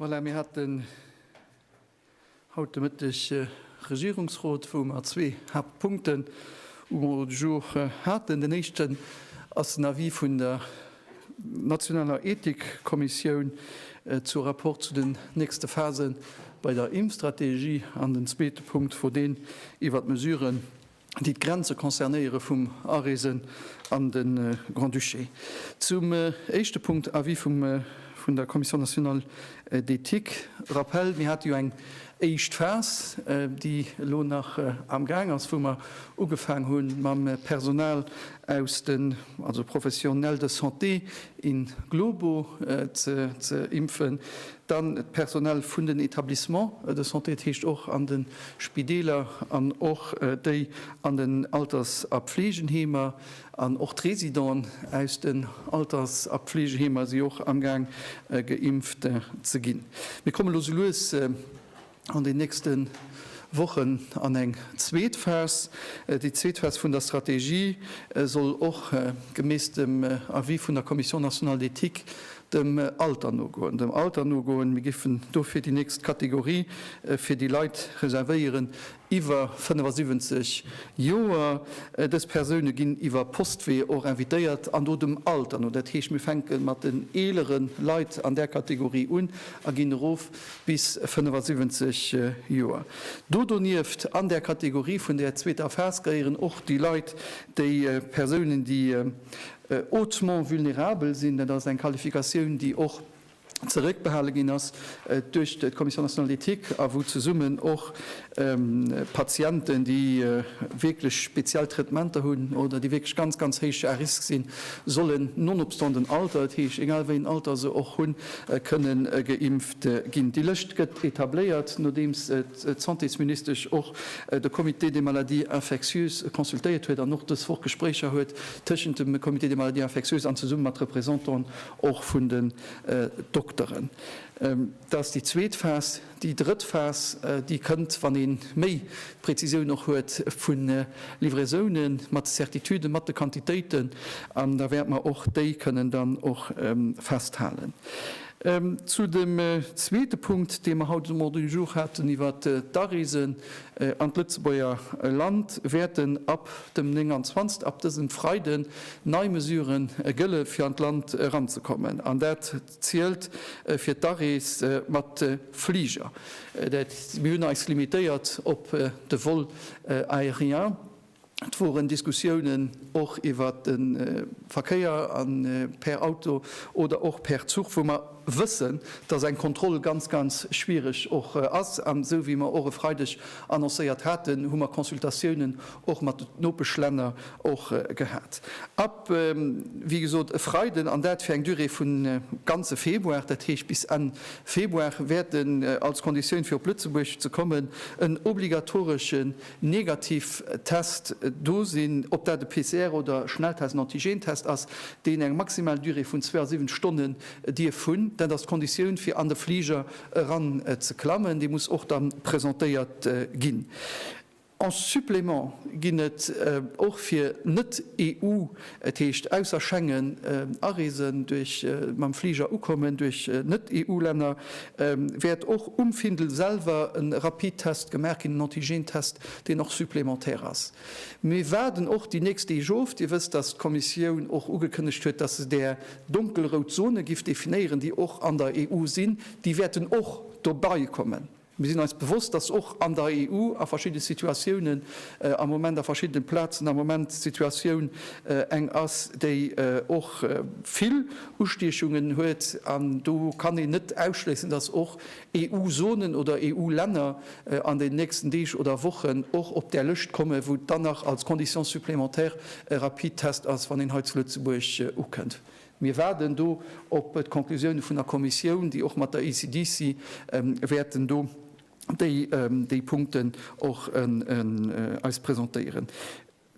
Voilà, mir haten haut de Mëtteg e Regierungsrot, wou mer zwee Haaptpunkten um Ordre du jour haten. Den éischten ass den Avis vun der nationaler Ethikkommissioun zum Rapport zu den nächste Phase bei der Impfstrategie an den zweete Punkt wor deen iwwert d'Mesuren déi d'Grenze concernéiere vum Areese an de Grand-Duché. Zum éischte Punkt, Avis vun der Commission nationale d'éthique. Rappel, Mir hate jo eng éischt Phas, déi elo nach amgaang ass, wou mer ugefaang hu mam Personal aus den, also Professionnels de santé in globo ze impfen. Dann d'Personal vun den Etablissements de santé, dat heescht och an de Spideeler an och déi an den Alters a Pfleegenheemer. An och d'Residenten aus den Alters a Pfleegeheemer si och amgaang geimpft ze ginn. Mir kommen elo esou lues. an den nächste Wochen an eng zweet Phas. Déi zweet Phas vun der Strategie soll och gemäss dem Avis vun der Commission nationale d'éthique dem Alter nogoen. Dem Alter nogoen. Mir géifen dofir déi nächst Kategorie fir déi Leit reservéieren iwwer 75 Joer. Dës Persoune ginn iwwer Postwee och invitéiert an do dem Alter no. Dat heescht, mir fänke mat den eelere Leit an där Kategorie un a ginn erof. bis 75 Joer. Do donieft, an där Kategorie vun där zweeter Phas, gehéieren och déi Leit, déi Persounen, déi hautement vulnérabel sinn. Dat ass eng Qualifikatioun, déi och zeréckbehale ginn ass duerch d'Commission nationale d'éthique a wou zesummen och Patienten, déi wierklech speziell Traitementer hunn oder déi wierklech ganz, ganz héich à risque sinn, sollen nonobstant den Alter, dat heescht, egal wéi en Alter se och hunn, kënne geimpft ginn. Déi Lëscht gëtt etabléiert, nodeems d'Santésministesch och de Comité des maladies infectieuses consultéiert huet an och dës Woch Gespréicher huet tëschent dem Comité des maladies infectieuses an zesumme mat Representanten och vun den Dokteren. Dat ass déi zweet Phas. Déi drëtt Phas, déi kënnt, wann ee méi d'Präzisioun och huet vu Livraisoune mat de Certituden, mat de Quantitéiten, an da wäerte mer och déi kënnen dann och festhalen. Zu dem zweete Punkt, dee mer haut um Ordre du jour haten, iwwer d'Areese an d'Lëtzebuerger Land, wäerten ab dem 29, ab dësem Freiden, nei Mesuren gëlle fir an d'Land eranzekommen. An dat zielt fir d'Arees mat de Fliger. Dat mir hunn eis limitéiert op de Vol aérien. Et woren Diskussiounen och iwwert de Verkéier an per Auto oder och per Zuch, wou mer wëssen, dass eng Kontroll ganz, ganz schwierig och ass. An esou wéi mer och e Freideg annoncéiert haten, hu mer Consultatiounen och mat de Nopeschlänner och gehat. wéi gesot, e Freiden, an dat fir eng Durée vun ganze Februar, dat heescht bis Enn Februar, wäert en als Konditioun, fir op Lëtzebuerg ze kommen, en obligatoreschen Negativtest do sinn, ob dat e PCR oder Schnelltest, en Antigentest ass, deen eng maximal Durée vun 72 Stonne dierf hunn. Dat ass d'Konditioun, fir an de Fliger eranzeklammen. Dee muss och da presentéiert ginn. En Supplément ginn et och fir Net-EU, et heescht ausser Schengen areesen, duerch mam Fliger ukommen, duerch Net-EU-Länner wäert och um Findel selwer e Rapidtest gemaach ginn, en Antigentest, deen och supplémentaire ass. Mir waarden och déi nächst Deeg of. Dir wësst, dass d'Kommissioun och ugekënnegt huet, dass se där donkelrout Zone giff definéieren, déi och an der EU sinn, déi wäerten och dobeikommen. Mir sinn eis bewosst, dass och an der EU a verschiddene Situatiounen am Moment, a verschiddenen Plazen am Moment d'Situatioun eng ass, déi och vill Ustiechungen huet. An do kann een net ausschléissen, dass och EU-Zonen oder EU-Länner an den nächsten Deeg oder Wochen och op där Lëscht kommen, wou dann nach als Condition supplémentaire e Rapidtest ass, wann een hei zu Lëtzebuerg ukënnt. Mir waarden do op d'Conclusioune vun der Kommissioun, déi och mat der ECDC wäerten do déi Punkten och eis presentéieren.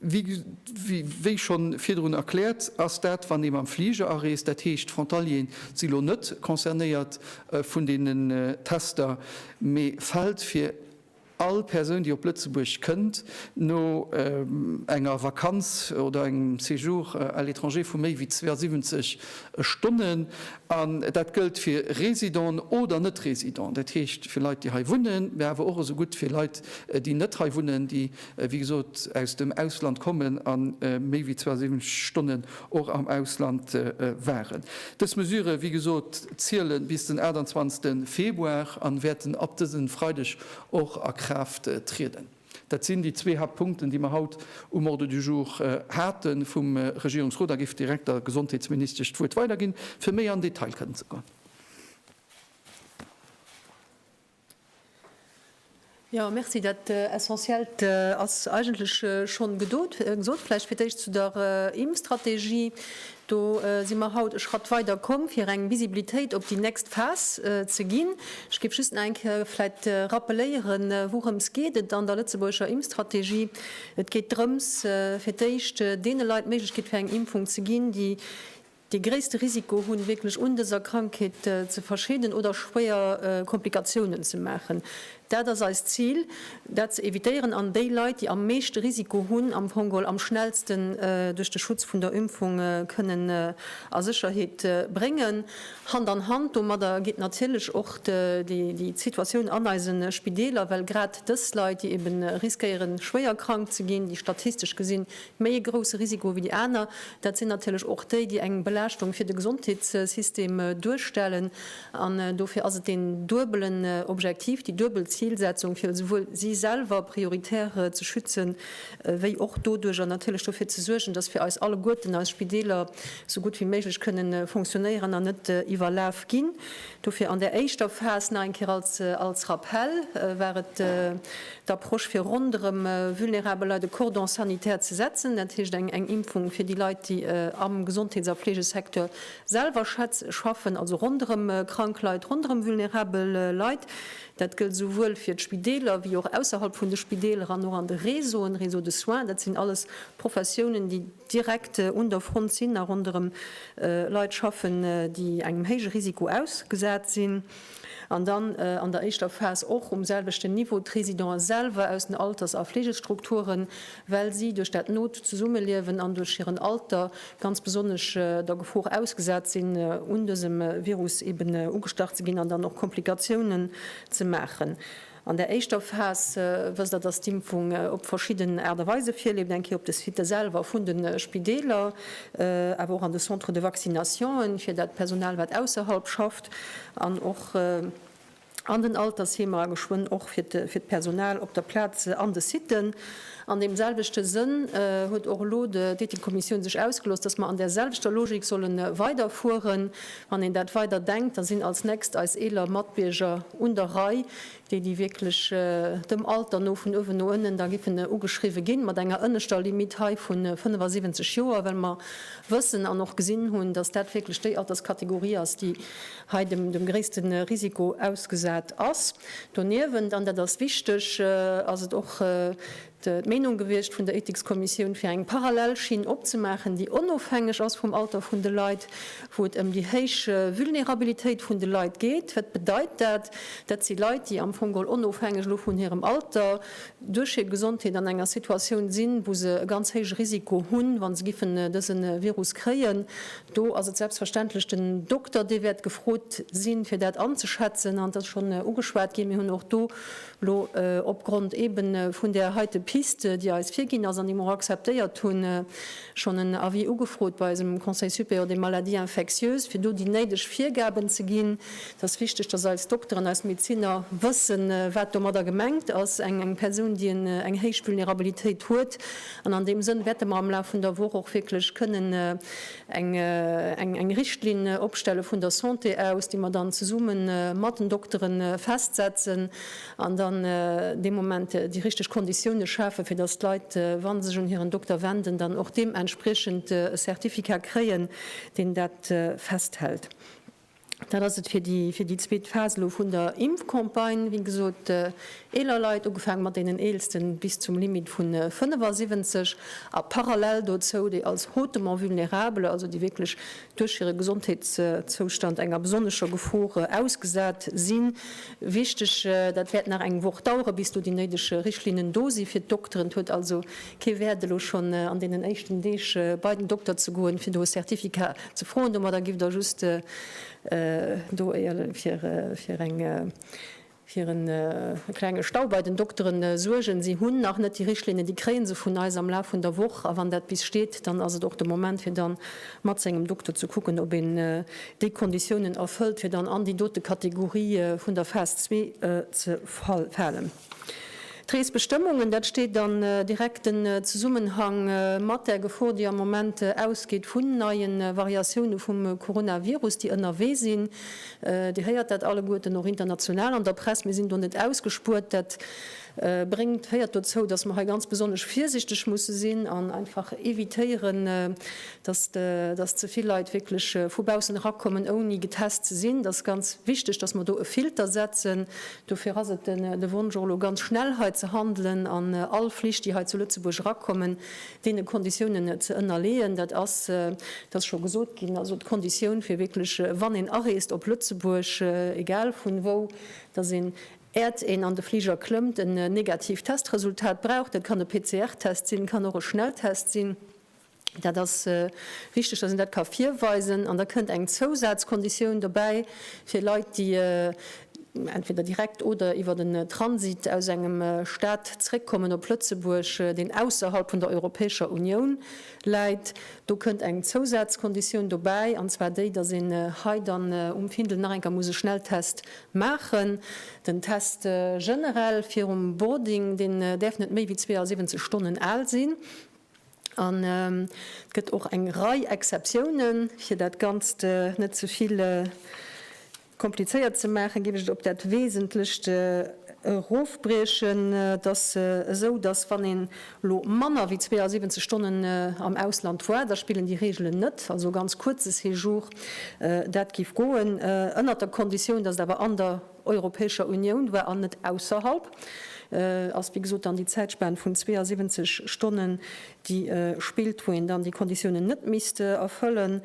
Wéi schonn virdrun erkläert, ass dat, wann ee mam Fliger areest, dat heescht d'Frontalieren si lo net concernéiert vun deenen Tester, mee fält fir, All Persoun, déi op Lëtzebuerg kënnt, no enger Vakanz oder engem Séjour à l'étranger vu méi wéi 72 Stonnen, an dat gëllt fir Résidenten oder Net-Résidenten, dat heescht fir Leit, déi hei wunnen, mä awer och esou gutt fir Leit, déi net hei wunnen, déi, wéi gesot, aus dem Ausland kommen a méi wéi 72 Stonnen och am Ausland waren. Dës Mesure, wéi gesot, ziele bis den 28 Februar an wäerten ab dësen Freideg och a Kraaft trieden. Dat sinn déi zwee Haaptpunkten, déi mer haut um Ordre du jour hate vum Regierungsrot. A géif direkt der Gesondheetsministesch d'Wuert weiderginn, fir méi an Detail kënnen ze goen. Jo, merci. Dat Essentiellt ass eigentlech schonn gedot, gesot. Vläicht fir d'éischt zu der Impfstrategie. Do si mer haut e Schratt weider komm, fir eng Visibilitéit op déi nächst Phas ze ginn. Ech géif just nach eng Kéier vläicht rappeléieren, wourëms geet et an der lëtzebuergescher Impfstrategie. Et geet drëms, fir d'éischt deene Leit d'Méiglechkeet fir eng Impfung ze ginn, déi Dee gréisste Risiko hunn, wierklech un dëser Krankheet ze verscheeden oder schwéier Komplikatiounen ze maachen. Dat ass eist Zil, dat ze evitéieren an déi Leit, déi am meeschte Risiko hunn, am Fong geholl am schnellsten duerch de Schutz vun der Impfung kënnen a Sécherheet bréngen. Hand an Hand domadder geet natierlech och déi Situatioun an eise Spideeler, well grad dës Leit, déi ebe riskéieren, schwéier krank ze ginn, déi statistesch gesinn Méi e grousse Risiko wéi déi aner, dat sinn natierlech och déi, déi eng Belaaschtung fir de Gesondheetssystem duerstellen. An dofir ass et deen duebelen Objektiv, déi duebel Zilsetzung, fir esouwuel si selwer prioritär ze schützen, wéi och doduerjer natierlech dofir ze suergen, datt fir eis alleguerten eis Spideeler esou gutt wéi méiglech kënnen fonctionnéieren an net iwwerlaf ginn. Dofir an där éischter Phas, nach eng Kéier als Rappell, war et d'Approche fir ronderëm vulnerabel Leit e Cordon sanitaire ze setzen, dat heescht eng Impfung fir déi Leit, déi am Gesondheets a Fleegesecteur selwer schaffen, also ronderëm krank Leit, ronderëm vulnerabel Leit. Dat gëllt esouwuel fir d'Spideeler wéi och ausserhalb vun de Spideeler an och an de Réseauen, Réseau de soins. Dat sinn alles Professiounen, déi direkt un der Front sinn a ronderëm Leit schaffen, déi engem héije Risiko ausgesat sinn. An dann an der éischter Phas och um selwechten Niveau d'Résidenten selwer aus den Alters a Fleegestrukturen, well si duerch dat not Zesummeliewen an duerch hiren Alter ganz besonnesch der Gefor ausgesat sinn, un dësem Virus eben ugestach ze ginn an dann och Komplikatiounen ze maachen. An der éischter Phas, wësst Der, dass d'Impfung op verschidden Aart a Weise virleeft, eng Kéier op de Sitë selwer vun de Spideeler, awer och an de Centres de vaccinationen, fir dat Personal, wat ausserhalb schafft, an och an den Altersheemer, a geschwënn och fir d'Personal op der Plaz an de Sitë. An deem selwechte Sënn huet och elo d'Ethikkommissioun sech ausgelooss, dass mer an där selwechter Logik solle weiderfueren, Wann een dat weider denkt, da sinn als nächst eis eeler Matbierger un der Rei, déi, déi wierklech dem Alter no vun uewen no ënnen da giffen ugeschriwwe ginn, mat enger ënneschter Limitt hei vu 75 Joer, well mer wëssen an och gesinn hunn, dass dat wierklech déi Alterskategorie ass, déi hei dem gréisste Risiko ausgesat ass. Doniewent, an dat ass wichteg, ass et och d'Meenung gewiescht vun der Ethikskommissioun, fir eng parallel Schinn opzemaachen, déi onofhängeg ass vum Alter vun de Leit, wou et ëm déi héich Vulnerabilitéit vun de Leit geet. Wat bedeit dat? Dat si Leit, déi am Fong geholl onofhängeg elo vun hirem Alter duerch hir Gesondheet an enger Situatioun sinn, wou se e ganz héije Risiko hunn, wa se giffen dëse Virus kréien. Do ass et selbstverständlech den Dokter, dee wäert gefrot sinn, fir dat anzeschätzen. An et ass schonn ugeschwat ginn, mir hunn och do Lo, opgrond eben vun där heite Piste, déi eis virginn ass an déi mer och akzeptéiert hunn, schonn en Avis ugefrot bei eisem Conseil supérieur des maladies infectieuses, fir do déi néideg Virgaben ze ginn. Et ass wichteg, dass eis Dokteren, eis Medeziner wëssen, wat domadder gemengt ass, eng Persoun, déi eng héich Vulnerabilitéit huet. An an deem Sënn wäerte mer am Laf vun der Woch och wierklech kënnen eng Richtlinn opstelle vun der Santé aus, déi mer dann zesumme mat den Doktere festsetzen an dann dee Moment déi richteg Konditioune schafe fir datt d'Leit, wa se sech un hiren Dokter wenden, dann och deementspriechend e Certificat kréien, deen dat festhält. Dat ass et fir déi zweet Phas elo vun der Impfcampagne. Wéi gesot, eeler Leit, ugefaangen mat deenen Eelsten bis zum Limit vu 75, a parallel dozou déi als hautement vulnérable, also déi wierklech duerch hire Gesondheetszoustand enger besonnescher Gefor ausgesat sinn. Wichteg, dat wäert nach eng Woch daueren, bis do déi néideg Richtlinnen do sinn fir d'Dokteren. Et huet also Kee Wäert elo schonn an deenen éischten Deeg bei den Dokter ze goen, fir do e Certificat ze froen. Domadder giff der just do fir e klenge Stau bei den Doktere suergen. Si hunn nach net déi Richtlinnen, déi kréie se vun eis am Laf vun der Woch. A wann dat bis steet, dann ass et och de Moment, fir dann mat sengem Dokter ze kucken, ob een déi Konditiounen erfëllt, fir dann an déi dote Kategorie vun der Phas zwee ze falen. D'Reesbestëmmungen, dat steet an direkten Zesummenhang mat där Gefor, déi am Moment ausgeet vun neie Variatioune vum Coronavirus, déi ënnerwee sinn. Dir héiert dat alleguerten och international an der Press. Mir sinn do net ausgespuert. Dat bréngt, féiert dozou, datt mer hei ganz besonnesch virsichteg musse sinn an einfach evitéieren, datt ze vill Leit wierklech vu baussen erakommen, ouni getest ze sinn. Dat ass ganz wichteg, datt mer do e Filter setzen. Dofir ass et de Wonsch, och elo ganz schnell hei ze handelen an all Flich, déi hei zu Lëtzebuerg erakommen, deene Konditiounen ze ënnerleeën. Dat ass, et ass scho gesot ginn, also d'Konditioun, fir wierklech, wann een areest op Lëtzebuerg, egal vun wou, dass een, äert een an de Fliger klëmmt, en negatiivt Testresultat brauch. Dat kann e PCR-Test sinn, kann och e Schnelltest sinn. Dat ass wichteg, dass een dat ka virweisen. An da kënnt eng Zousazkonditioun dobäi fir Leit, déi entweder direkt oder iwwer den Transit aus engem Stat zréckkommen op Lëtzebuerg, deen ausserhalb vun der Europäescher Unioun läit. Do kënnt eng Zousazkonditioun dobäi, an zwar déi, dass een hei dann um Findel nach eng Kéier muss e Schnelltest maachen. Den Test generell virum Boarding, deen däerf net méi wéi 72 Stonnen al sinn. An et gëtt och eng Rei Exceptiounen. Fir dat Ganzt net ze vill komplizéiert ze maachen, géif ech et op dat Wesentlecht erofbriechen. Et ass esou, datt wann een elo manner wéi 72 Stonnen am Ausland war, da spillen déi Reegelen net. Also e ganz kuerze Séjour, dat géif goen, ënnert der Konditioun, datt et awer an der. Europäescher Unioun war an net ausserhalb, ass wéi gesot dann déi Zäitspan vun 72 Stonnen déi spillt, wou een dann déi Konditiounen net misst erfëllen.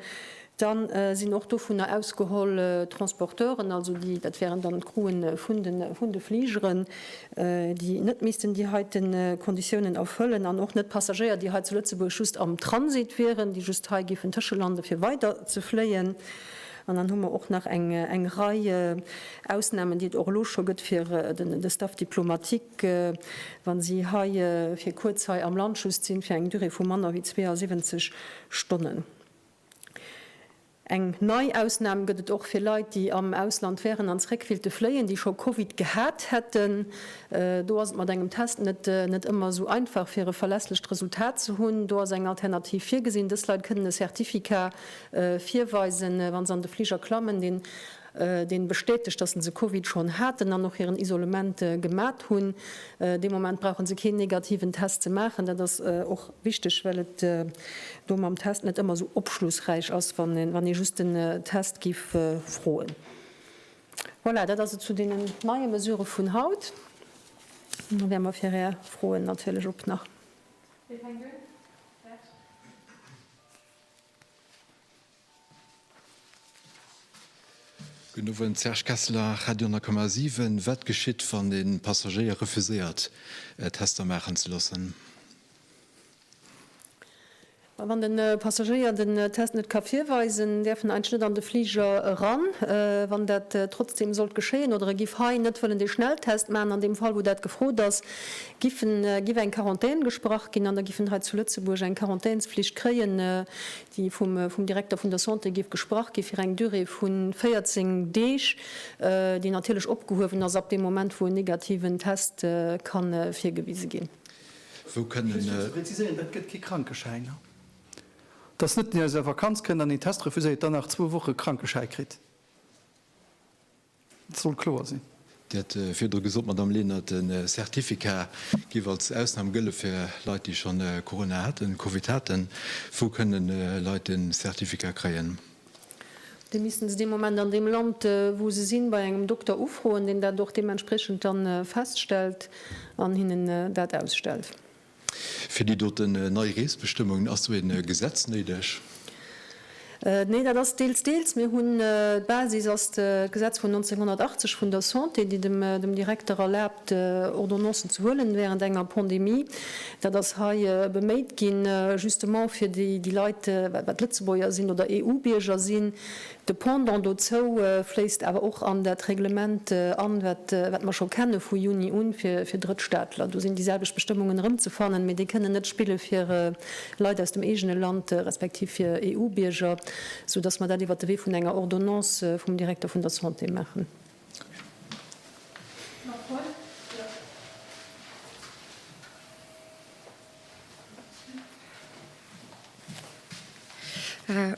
Da sinn och dovunner ausgeholl d'Transporteuren, also déi, dat wären dann d'Crewen vun de Fligeren, déi net missten déi heite Konditiounen erfëllen an och net d'Passagéier, déi hei zu Lëtzebuerg just am Transit wieren, déi just hei géifen tëschelande fir weider ze fléien. An dann hu mer och nach eng Rei Ausnahmen, déi et och elo scho gëtt fir de Staff diplomatique, wa si hei fir kuerz hei am Land just sinn, fir eng Durée vu manner wéi 72 Stonnen. Eng nei Ausnahm gëtt et och fir Leit, déi am Ausland wären an zréck willte fléien, déi scho Covid gehat hätten. Do ass et mat engem Test net ëmmer esou einfach, fir e verlässlecht Resultat ze hunn. Do ass eng Alternativ virgesinn, Dës Leit kënnen e Certificat virweisen, wa se an de Fliger klammen, deen deen bestätegt, dass se Covid schonn haten an och hiren Isolement gemat hunn. Dee Moment brauche se keen negativen Test ze maachen. Dat ass och wichteg, well et do mam Test net ëmmer esou opschlussräich ass, wann ee wann ee just den Test géif froen. Voilà, dat ass et zu deenen neie Mesurë vun haut. An da wäre mer fir Är Froen natierlech op nach. Wee fänkt un? Serge. Gudden Owend, Serge Kesseler, Radio 10,7. Wat geschitt, wann e Passagéier refuséiert, Tester maachen ze loossen? Wann de Passagéier den Test net ka virweisen, däerf en eigentlech net an de Fliger eran. Wann dat trotzdeem sollt geschéien oder e giff hei net wëllen dee Schnelltest maachen, an deem Fall wou dat gefrot ass, giffen, giff eng Quarantän gesprach ginn an da giffen hei zu Lëtzebuerg eng Quarantänsflicht kréien, déi vum, vum Direkter vun der Santé giff gesprach gi fir eng Durée vu 14 Deeg, déi natierlech opgehuewen ass ab deem Moment, wou en negativen Test ka virgewise ginn. Wou kënnen. Just fir ze präziséieren, dat gëtt kee Krankeschäin, ha? Et ass net, deen aus enger Vakanz kënnt an een Test refuséiert, dann nach zwou Woche Krankeschäi kritt. Et soll kloer sinn. Dir hat virdru gesot, Madamm Lenert, de Certificat géif als Ausnam gëlle fir Leit, déi schonn Corona haten, Covid haten. Wou kënne Leit de Certificat kréien? Déi missten se dee Moment an deem Land, wou se sinn, bei engem Dokter ufroen, deen dat och deementspriechend da feststellt an hinnen dat ausstellt. Fir déi doten nei Reesbestëmmungen ass do een Gesetz néideg? Nee, dat ass deels deels. Mir hunn, d'Basis ass d'Gesetz vun 1980 vun der Santé, déi dem Direkter erlaabt Ordonnancen ze huelen während enger Pandemie. Dat ass hei beméit ginn justement fir déi Leit, wat Lëtzebuerger sinn oder EU-Bierger sinn, De Pendant dozou fléisst awer och an dat Reglement an, wat mer scho kenne vu Juni un, fir Drëttstaatler. Do sinn déi selwecht Bestëmmungen erëmzefannen, mee déi kënnen net spille fir Leit aus dem eegene Land, respektiv fir EU-Bierger, sou dass mer dat iwwert de Wee vun enger Ordonnance vum Direkter vun der Santé maachen.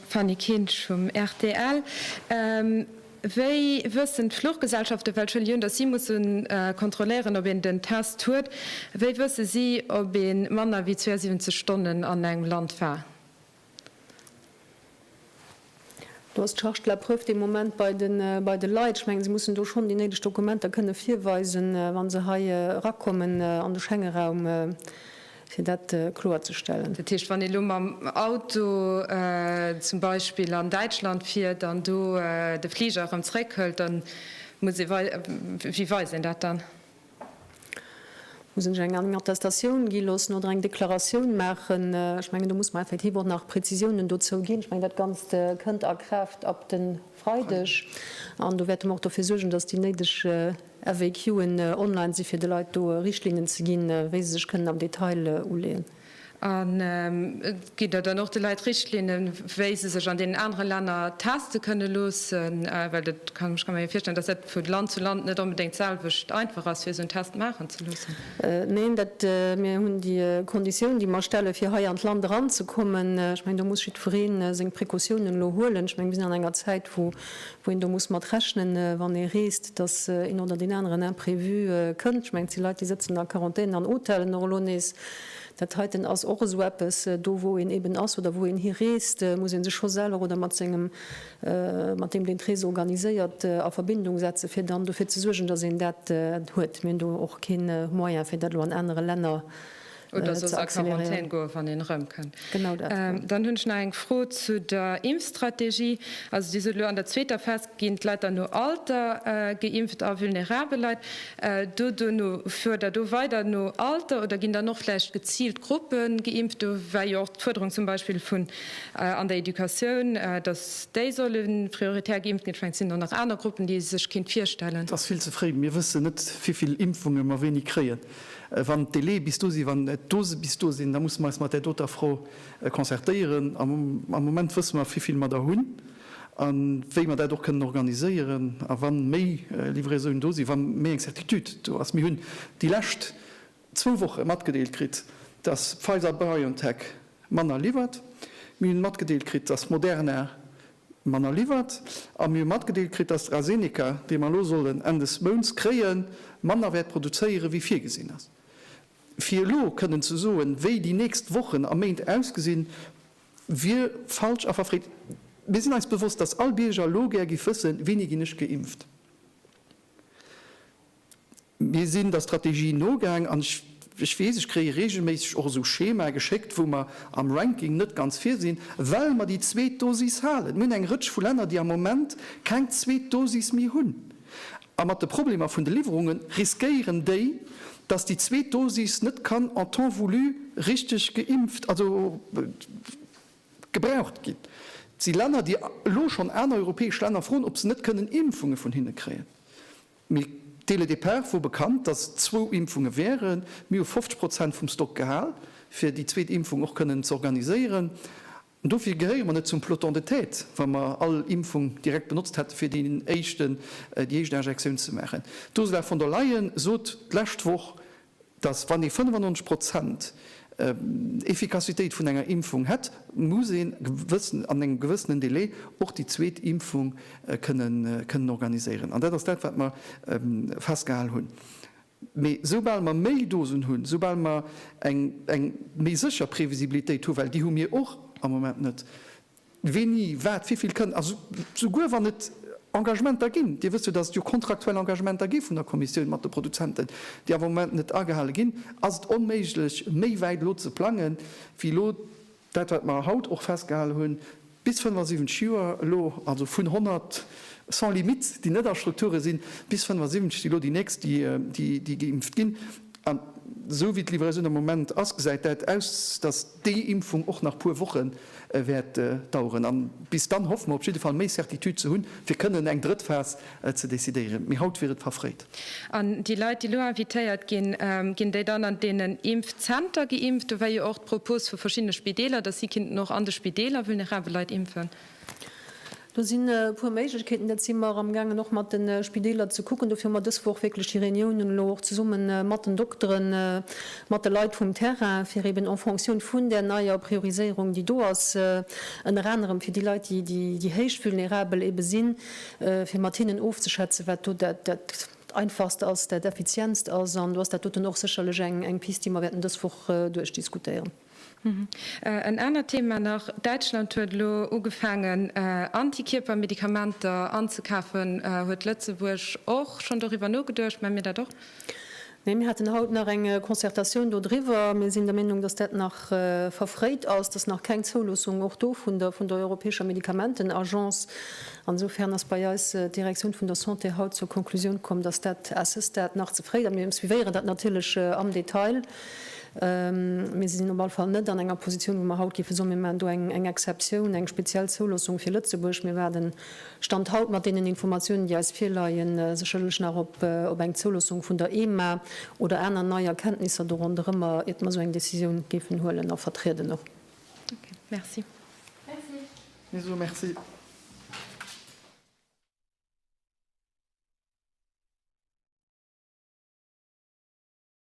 Fanny Kinsch vum rtl, Wéi wëssen d'Fluchgesellschaften, well scho Lioun, datt si musse kontrolléieren, ob een den Test huet, wéi wësse si, ob ee manner wéi 72 Stonnen an engem Land war? Do ass d'Charge de la preuve de Moment bei de Leit. Ech mengen, se mussen do schonn déi néideg Dokumenter kënne virweisen, wa se hei erakommen an de Schengeraum, fir dat kloerzestellen. Dat heescht, wann ee elo mam Auto zum Beispill an Däitschland fiert an do de Fliger erëm zréckhëlt, da muss ee, wéi weist een dat dann? Muss ech eng eng Attestatioun gi loossen oder eng Deklaratioun maachen? Ech mengen, do muss mer effektiv och nach Prezisiounen dozou ginn. Ech mengen, dat Ganzt kënnt a Kraaft ab de Freideg. An do wäerte mer och dofir suergen, datt déi néideg FAQen online si fir de Leit do Richtlinnen ze ginn, wéi se sech kënnen am Detail uleeën. An gitt Der dann och de Leit Richtlinnen, wéi se sech an deenen anere Länner teste kënne loossen? Well dat, ech kann mer jo virstellen, datt dat vu Land zu Land net onbedéngt d'selwecht einfach ass, fir esou en Test maachen ze loossen. Neen, dat, mir hunn déi Konditioun, déi mer stelle fir hei an d'Land eranzekommen, ech mengen, do muss jiddweree seng Precautiounen elo huelen. Ech menge mir sinn an enger Zäit, wou wou een do muss mat rechnen, wann ee reest, dass een oder deen aneren Imprévu kënnt. Ech mengen, et si Leit, déi sëtzen a Quarantän an Hotelen och elo nees. Dat heiten ass och esou eppes, do wou een eben ass oder wou een hireest, muss ee sech scho selwer oder mat sengem, mat deem, deen d'Rees organiséiert, a Verbindung setzen, fir dann dofir ze suergen, dass een dat huet. Mir hunn do och kee Moyen, fir dat elo an anere Länner Oder soss a Quarantän goen, wann een erëmkënnt. Genau dat. Dann hunn ech nach eng Fro zu der Impfstrategie. Also Dir sot elo, an der zweeter Phas ginn d'Leit dann no Alter geimpft a vulnerabel Leit do duerno. Fuert Der do weider no Alter oder ginn dann och vläicht geziilt Gruppe geimpft? Do war jo och d'Fuerderung zum Beispill vun an der Educatioun, datt déi solle prioritär geimpft ginn. Vläicht sinn do nach aner Gruppen, déi ee sech kéint virstellen. Et ass vill ze fréi. Mir wëssen net, wéi vill Impfunge mer wéini kréien. Wann d'Délai bis do sinn, wann d'Dose bis do sinn, da musse mer eis mat där doter Fro concertéieren. Am Moment wësse mer, wéi vill mer der hunn a wéi mer dat och kënnen organiséieren. A wa méi Livraisonen do sinn, wa méi eng Certitude do ass, mir hunn déi lescht zwou Woche matgedeelt kritt, dass Pfizer-BioNTech manner liwwert, mir hunn matgedeelt kritt, dass Moderna Manner liwwert, a mir hu matgedeelt kritt, datt d'ASeneca, déi mer elo sollen Enn des Mounts kréien, manner wäert produzéiere wéi virgesinn ass. Fir elo kënnen ze soen, wéi déi nächst Wochen a Méint ausgesinn, wier falsch a verfreet. Mir sinn eis bewosst, datt all Bierger elo gär giff wëssen, Wéini ginn ech geimpft? Mir sinn der Strategie nogaang an ech weess, ech kréie reegelméisseg och esou Schemae geschéckt, wou mer am Ranking net ganz vir sinn, well mer déi zweet Dosis halen. Mir hunn eng Rëtsch vu Länner, déi am Moment keng zweet Dosis méi hunn. A mat de Problemer vun de Liwwerunge riskéieren déi, dass déi zweet Dosis net kann en temps voulu richteg geimpft, also gebraucht ginn. Et si Länner, déi elo schonn aner europäesch Länner froen, ob se net kënnen Impfunge vun hinne kréien. Mee dès le départ wor bekannt, dass et zwou Impfunge wären. Mir hu 50 Prozent vum Stock gehal, fir déi zweet Impfung och kënnen ze organiséieren. An dofir gehéiere mer net zum peloton de tête, wa mer all Impfung direkt benotzt hätten, fir déi éischt Injektioun ze maachen. D'Ursula von der Leyen sot d'lescht Woch, dass wann ee 95 Prozent Effikassitéit vun enger Impfung hätt, muss een gewëssen, an engem gewëssenen Delai och déi zweet Impfung kënnen, kënnen organiséieren. An dat ass dat, wat mer festgehal hunn. Mee soubal mer méi Dosen hunn, soubal mer eng, eng méi sécher Previsibilitéit hu, well déi hu mir och am Moment net, Wéini, wat, wivill kënnt, also souguer wann et Engagementer ginn, Dir wësst jo, datt et jo kontraktuell Engagementer gi vun der Kommissioun mat de Produzenten, déi awer am Moment net agehale ginn, ass et onméiglech méi wäit elo ze plange wéi elo dat, wat mer haut och festgehale hunn, bis 75 Joer elo, also vun 100 sans limite, déi net a Strukture sinn, bis 75, déi elo déi nächst, déi geimpft ginn. An esou wéi d'Livraison am Moment ass, gesäit dat aus, datt. déi Impfung och nach puer Woche wäert daueren an bis dann hoffe mer op jidde Fall méi Certitude ze hunn, fir kënnen eng drëtt Phas ze decidéieren. Mee haut wier et verfréit. An déi Leit, déi elo invitéiert ginn, ginn déi dann an deenen Impfzenter geimpft? Do war jo och d'Propos vu verschiddene Spideeler, datt si kinnten och an de Spideeler vulnerabel Leit impfen. Do sinn e puer Méiglechkeeten. Dat si mer amgaangen och mat de Spideeler ze kucken. Dofir hu mer dës Woch wierklech déi Reuniounen elo och zesumme mat den Dokteren, mat de Leit vum Terrain, fir eeben en Fonctioun vun där neier Prioriséierung, déi do ass, ënner anerem fir déi Leit, déi héich vulnerabel eebe sinn, fir mat hinnen ofzeschätzen, wat do dat Einfachst ass, dat Effizientst ass. An do ass dat doten och sécherlech eng Pist, déi mer wäerten dës Woch duerchdiskutéieren. En anert Thema nach, Däitschland huet elo ugefaangen Antikierpermedikamenter anzekafen. Huet Lëtzebuerg och schonn doriwwer nogeduecht? Mä mir dat och? Nee, mir haten haut nach eng Concertatioun dodriwwer. Mir sinn der Meenung, datt dat nach verfréit ass, datt nach keng Zouloossung och do vun der europäescher Medikamentenagence. An esofern ass bei eis d'Direktioun vun der Santé haut zur Konklusioun komm, datt dat à ce stade nach ze fréi ass. Mir suivéieren dat natierlech am Detail. Mir sinn op alle Fall net an enger Positioun, wou mer haut géife soen, mir maachen do eng Exceptioun, eng speziell Zouloossung fir Lëtzebuerg. Mir waarden, Stand haut, mat deenen Informatiounen, déi eis virleien, sécherlech nach op eng Zouloossung vun der EMA oder aner nei Erkenntnisser do ronderëmmer, iert mer esou eng Décisioun géifen huelen a vertrieden och. Okay, merci. Merci. Mir soe Merci.